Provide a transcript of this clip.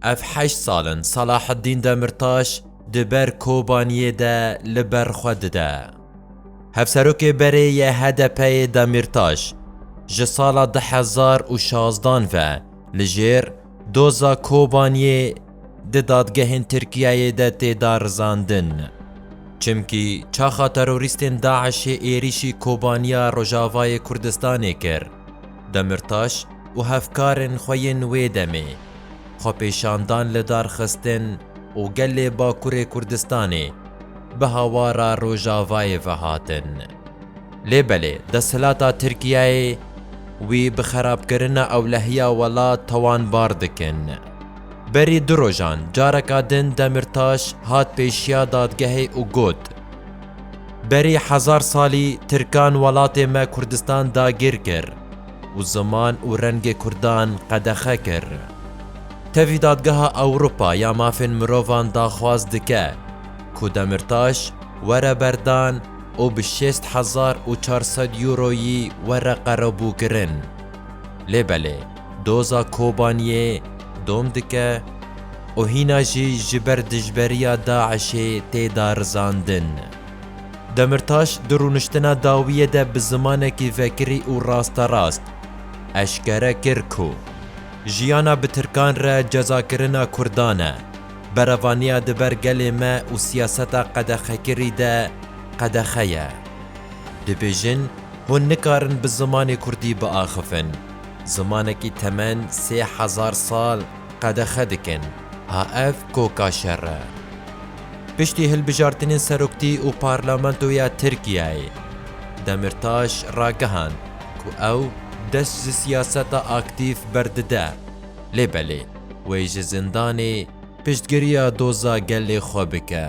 Ev heşt sal in Salaheddîn Demirtaş di ber Kobaniyê de li ber xwe dide. Hevserokê berê yê HDP'ê Demirtaş ji sala du hezar û şazdan ve li jêr doza Kobaniyê di dadgehên Tirkiyeyê de tê darizandin. Çimkî çaxa terorîstên DAIŞ'ê êrîşî Kobaniya Rojavayê Kurdistanê kir. Demirtaş û hevkarên xwe yên wê demê, xwepêşandan li dar xistin û gelê Bakurê Kurdistanê bi hawara Rojavayê ve hatin. Lê belê desthilata Tirkiyeyê wî bi xerabkirina ewlehiya welat tawanbar dikin. Berî du rojan careka din Demirtaş hat pêşiya dadgehê û got, Berî hezar salî Tirkan welatê me Kurdistan dagîr kir û ziman û rengê Kurdan qedexe kir. Tevî Dadgeha Ewropa ya Mafên Mirovan daxwaz dike ku Demirtaş were berdan û bi şêst hezar û çar sed Euroyî were qerebûkirin. Lê belê. Doza Kobaniyê dom dike û hîna jî ji ber dijberiya DAIŞ'ê tê darizandin. Demirtaş di rûniştina dawiyê de bi zimanekî vekirî û rasterast eşkere kir ku jiyana bi tirkan re cezakirina kurdan e, berevaniya di ber gelê me û siyaseta qedexekirî de qedexe ye. Dibêjin hûn nikarin bi zimanê kurdî biaxivin. Zimanekî temen sê hezar sal qedexe dikin, ha ev koka şer e. Piştî hilbijartinên seroktî û parlamentoyê ya Tirkiyeyê, Demîrtaş ragihand ku ew dest ji siyaseta aktîf berdide, lê belê wê ji zindanê piştgiriya doza gelê xwe bike.